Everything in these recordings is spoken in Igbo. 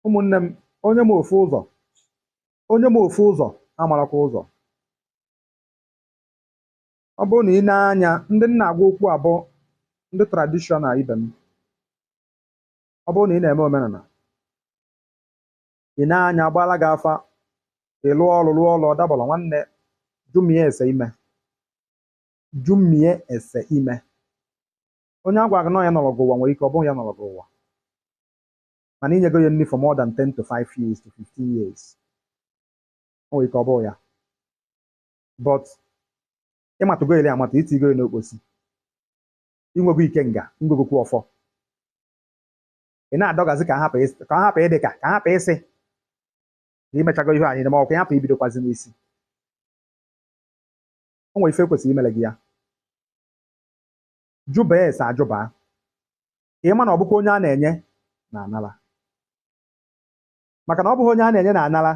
ụmụnne m onye ma ofu ụzọ onye ma ofu ụzọ amarakwa ụzọ ọ bụrụ na i nee anya ndị m na-agwa okwu a bụ ndị traditional ibe m ọ bụrụ na ị na-eme omenala i nee anya a gbaala gị afa ị lụọ ọrụ lụọ ọrụ ọ dabara nwanne jụmie ese ime jụmie ese ime onye a gwara gị na ọ ya nọrọ gị ụwa nwere ike ọ bụghị ya nọrọ gị ụwa mana i nyego ya nri for more than 10 to 5 years to 15 years o nwere ike ọ bụghị ya but ị matago ele amata i tigo ya n'okposi i nwego ikenga ngogokwu ọfọ ị na-adọgazi ka hapụ ịsị- ka hapụ ịdị ka ka hapụ ịsị na i mechago ihe anyị ma ọ ka hapụ ibidokwazi n'isi o nwere ife e kwesịrị imere gị ya jụba ese ajụba ka ị ma na ọ bụkwa onye a na-enye na-anara maka na ọ bụghị onye a na-enye na-anara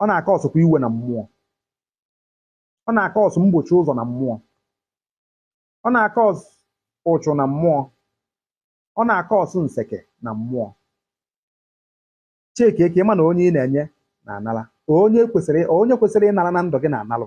ọ na-acausekwa iwe na mmụọ ọ na-acause mgbochi ụzọ na mmụọ ọ na-acause ụchụ na mmụọ ọ na-acause nseke na mmụọ checkie ka ị ma na onye ị na-enye na-anara onye kwesịrị onye kwesịrị ịnara na ndụ gị na-analụ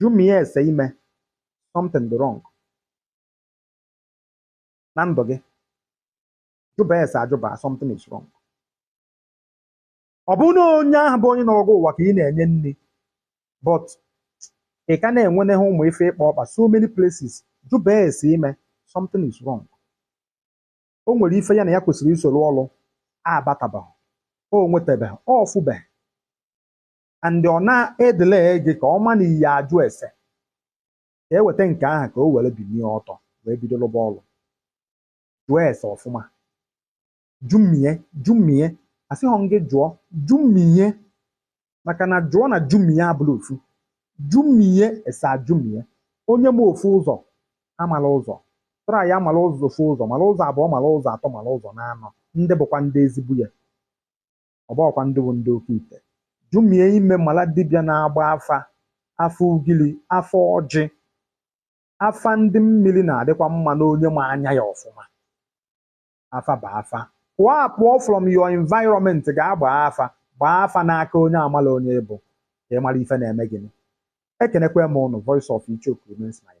jụmie ese ime something dị wrong na ndụ gị jụba ese ajụba something is wrong ọ bụrụ na onye ahụ bụ onye nọrọ gị ụwa ka ị na-enye nri but ị ka na-enwenehe ụmụ ife ịkpa ọkpa so many places jụba ese ime something is wrong o nwere ife ya na ya kwesịrị isoro ọrụ abatabeghị o nwetabeghị ọ fụbeghị and ọ na-edele gị ka ọ ma na ị ya-ajụ ese ka e weta nke ahụ ka o were binie ọtọ wee bido lụba ọlụ jụọ ese ọfụma jụmie jụmie asịghọ m gị jụọ jụmie maka na jụọ na jụmie abụla ofu jụmie ese ajụmie onye ma ofu ụzọ amala ụzọ try mala ụzọ ofu ụzọ mala ụzọ abụọ mala ụzọ atọ mala ụzọ naanọ ndị bụkwa ndị ezigbo ya ọ bụghọkwa ndị bụ ndị oke ite jụmie ime mala dibịa na-agba afa afa ugili afa ọjị afa ndị mmiri na-adịkwa mma na onye ma anya ya ọfụma afa bụ afa pụọ apụọ from your environment gaa gbaa afa gbaa afa n'aka onye amala onye ị bụ ka ị mara ife na-eme gịnị ekenekwa m ụnụ voice of ichoku remains my